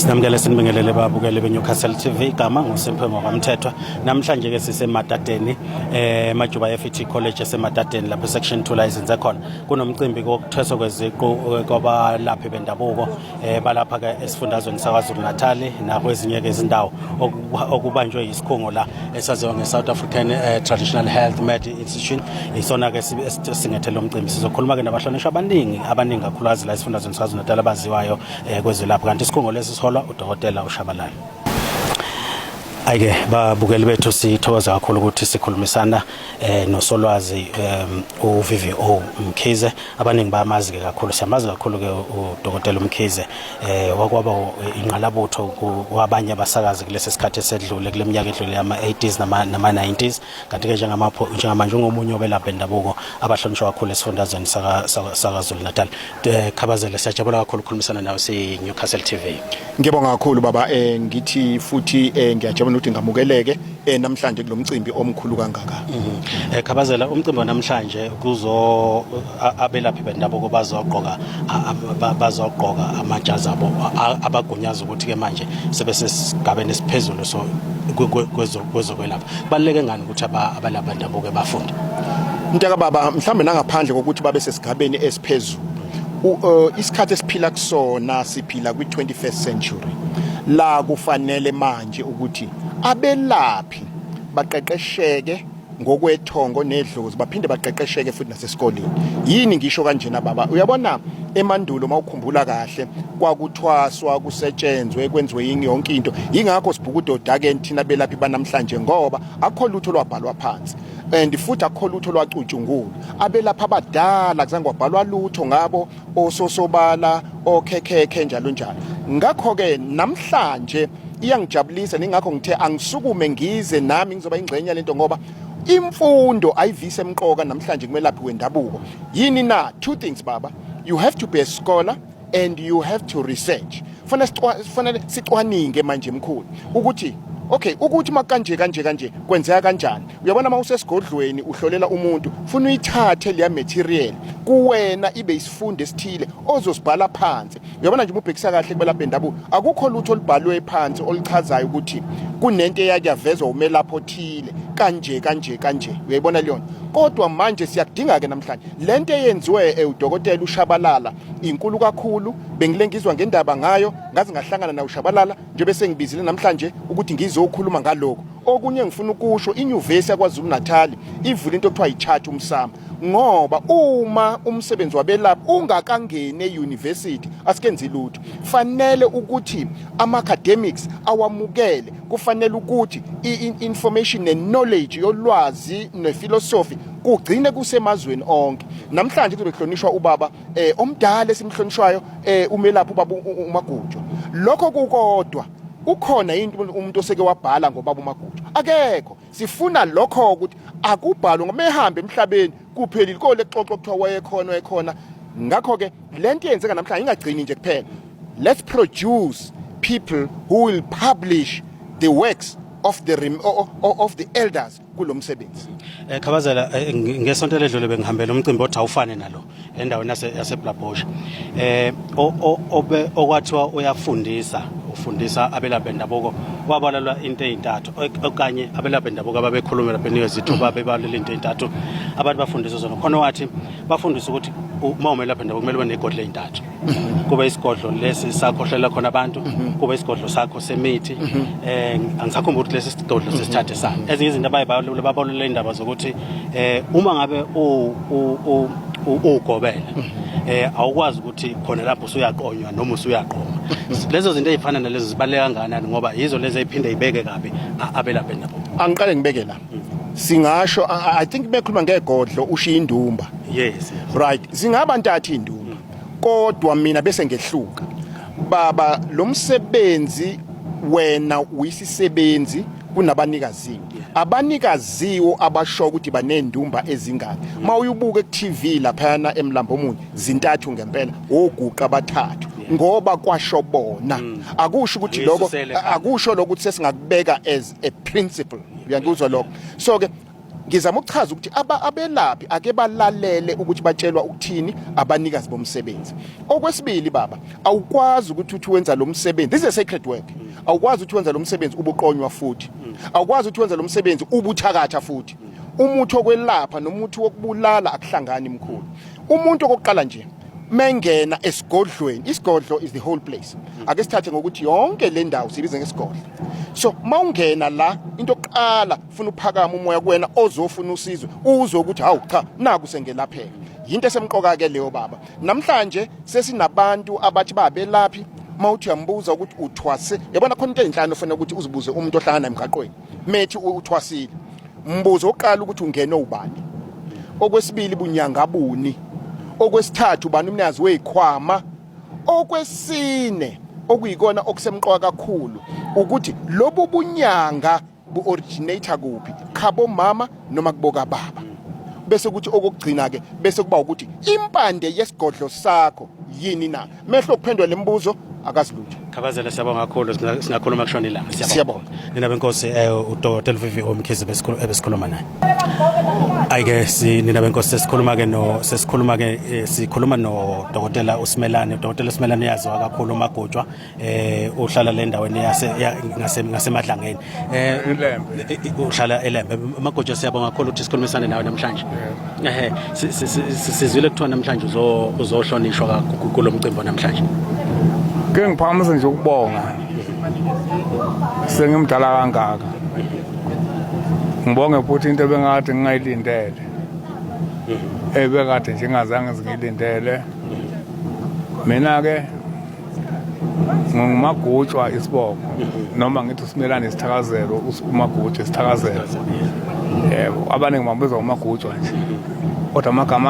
Sinamukele sinibingelele babukele beNewcastle TV igama nguSimphe ngokwamthethwa. Namhlanje ke siseMadadeni eh Majuba FET College eseMadadeni lapho section 2 la izinze khona. Kunomcimbi kokuthweswa kweziqu eh, kwabalaphi bendabuko eh balapha ke esifundazweni saKwaZulu Natal nakwezinye ke izindawo okubanjwe isikhungo la esaziwa ngeSouth African eh, Traditional Health Med Institute. Isona ke singethele umcimbi. Sizokhuluma ke nabahlonishwa abaningi abaningi kakhulu azila isifundazweni KwaZulu-Natal abaziwayo eh, kwezelapho kanti isikhungo lesi siholwa uDokotela uShabalala. Ayike babukeli bethu sithokoza kakhulu ukuthi sikhulumisana eh nosolwazi um, uVVO Mkhize abaningi bamazi ke kakhulu siyamazi kakhulu ke uDokotela Mkhize eh wakwaba inqalabutho kwabanye abasakazi kulesi sikhathi esedlule kuleminyaka edlule yama 80s nama nama 90s kanti ke njengamapho njengamanje ungomunye obelapha indabuko abahlonishwa kakhulu esifundazweni saka saka Zulu Natal Eh, Khabazela siyajabula kakhulu ukukhulumisana nawe si Newcastle TV. Ngiyabonga kakhulu baba eh ngithi futhi eh ngiyajabula ukuthi ngamukeleke eh namhlanje kulomcimbi omkhulu kangaka. Mhm. Eh Khabazela umcimbi namhlanje kuzo abelaphi bendabuko bazogqoka bazogqoka amajazi abo abagunyaza ukuthi ke manje sebesesigabeni esiphezulu so kwezokwelapha. Baleke ngani ukuthi abalaphi bendabuko ebafunda mntaka baba mhlawumbe nangaphandle kokuthi babe sesigabeni esiphezulu uh, isikhathi esiphila kusona siphila kwi-21st century la kufanele manje ukuthi abelaphi baqeqesheke ngokwethongo nedlozi baphinde baqeqesheke futhi sesikoleni yini ngisho kanjena baba uyabona emandulo mawukhumbula kahle kwakuthwaswa kusetshenzwe kwenziwe yini yonke into ingakho sibhukudoda ke thina belaphi banamhlanje ngoba akho lutho lwabhalwa phansi and futhi akho lutho lwacutshungula abelapha abadala kuzange kwabhalwa lutho ngabo ososobala okhekhekhe njalo njalo ngakho ke namhlanje iyangijabulisa ningakho ngithe angisukume ngize nami ngizoba ingxenye lento ngoba imfundo ayivise emqoka namhlanje kumelaphi wendabuko yini na two things baba you have to be a scholar and you have to research fanele fanele sicwaninge manje mkhulu ukuthi okay ukuthi makanje kanje kanje kwenzeka kanjani uyabona uma usesigodlweni uhlolela umuntu funa uyithathe leya material kuwena ibe isifundo esithile ozosibhala phansi Uyabona nje ububhekisa kahle kubelaphi bendabuko. Akukho lutho olubhalwe phansi oluchazayo ukuthi kunento eyake yavezwa umelaphi othile kanje kanje kanje. Uyayibona leyo nto. Kodwa manje siyakudinga ke namhlanje. Lento eyenziwe eudokotela ushabalala inkulu kakhulu. Bengilengizwa ngendaba ngayo, ngaze ngahlangana na ushabalala njengoba sengibizile namhlanje ukuthi ngizokhuluma ngaloko. Okunye ngifuna ukusho inyuvesi yaKwaZulu Natal ivule into okuthiwa yi-charter umsamo ngoba uma umsebenzi wabelaphi ungakangeni e-university asikenzi lutho fanele ukuthi ama-academics awamukele kufanele ukuthi i-information ne-knowledge yolwazi nefilosofi kugcine kusemazweni onke namhlanje kuzobe kuhlonishwa ubaba eh omdala esimhlonishwayo eh umelaphi ubaba uMagujwa lokho kukodwa ukhona yini umuntu oseke wabhala ngobaba umagutsha akekho sifuna lokho ukuthi akubhalwe ngoba ehambe emhlabeni kuphelile kole xoxo kuthiwa wayekhona wayekhona ngakho ke lento yenzeka namhlanje ingagcini nje kuphela let's produce people who will publish the works of the of the elders kulo msebenzi eh khabazela eh, ngesonto ledlule bengihambela umcimbi othi awufane nalo endaweni yase yaseBlabhosha eh obe okwathiwa uyafundisa ufundisa abelaphi bendabuko wabalalwa into ezintathu okanye abelaphi bendabuko ababekhulumela beniwe zithuba bebalula into ezintathu abantu bafundisa zona khona wathi bafundisa ukuthi uma umelaphi bendabuko kumele ube negodle ezintathu kube isigodlo lesi sakhohlela khona abantu kube isigodlo sakho semithi eh angisakhumbula ukuthi lesi sigodlo sesithathe sa ezinye izinto abaye babalule indaba zokuthi eh uma ngabe u ugobela eh awukwazi ukuthi khona lapho usuyaqonywa noma usuyaqoma lezo zinto ezifana nalezo zibaleka kangakanani ngoba yizo lezi eziphinde ibeke kabi abelaphe nabo angiqale ngibeke la singasho i think bekhuluma ngegodlo ushiya indumba yes right singaba ntatha indumba kodwa mina bese ngehluka baba lo msebenzi wena uyisisebenzi kunabanikazi abanikaziwo abasho ukuthi banendumba ezingaki uma uyubuka ku-TV laphayana emlambo omunye zintathu ngempela oguqa abathathu ngoba kwasho bona mm. akusho ukuthi lokho akusho lokho ukuthi sesingakubeka as a principle uyangikuzwa lokho so ke ngizama ukuchaza ukuthi abelaphi ake balalele ukuthi batshelwa ukuthini abanikazi bomsebenzi okwesibili baba awukwazi ukuthi uthi wenza lo msebenzi this is a sacred work awukwazi ukuthi wenza lo msebenzi ubuqonywa futhi awukwazi ukuthi wenza lo msebenzi ubuthakatha futhi umuthi okwelapha nomuthi wokubulala akuhlangani mkhulu umuntu okokuqala nje mengena esigodlweni isigodlo is the whole place ake sithathe ngokuthi yonke le ndawo sibize ngesigodlo so mawungena la into yokuqala ufuna uphakama umoya kuwena ozofuna usizo uzwe ukuthi hawu cha naku sengelapheka yinto esemqoka ke leyo baba namhlanje sesinabantu abathi babelaphi mawuthi uyambuza ukuthi uthwase yabona khona into ezinhlanu ofanele ukuthi uzibuze umuntu ohlangana emgaqweni methi uthwasile mbuzo oqala ukuthi ungene ubani okwesibili bunyanga buni okwesithathu ubani umnazi wezikhwama okwesine okuyikona okusemqoka kakhulu ukuthi lobu bunyanga bu-originator kuphi khabo mama noma kuboka baba bese kuthi okugcina ke bese kuba ukuthi impande yesigodlo sakho yini na mehlo kuphendwa lemibuzo akazilutho Khabazela siyabonga kakhulu singakhuluma kushona ilanga siyabonga nina benkosi eh uDr Vivi Omkhize besikhuluma ebesikhuluma naye ayike si nina benkosi sesikhuluma ke no sesikhuluma ke eh, sikhuluma no Dr Usimelane Dr Usimelane yaziwa kakhulu magojwa eh uhlala le ndaweni yase ngasemadlangeni eh uhlala elembe magojo siyabonga kakhulu ukuthi sikhulumisane nawe namhlanje ehe sizwile kuthiwa namhlanje uzohlonishwa kakhulu kulo mcimbi namhlanje ke ngiphakamisa nje ukubonga sengimdala kangaka ngibonge futhi into ebengakade ngingayilindele ebekade nje ngingazange zingilindele mina-ke ngingumagutshwa isibongo noma ngithi usimelane isithakazelo umagutshwa isithakazelo yebo abaningi bambizwa ngomagutshwa nje kodwa amagama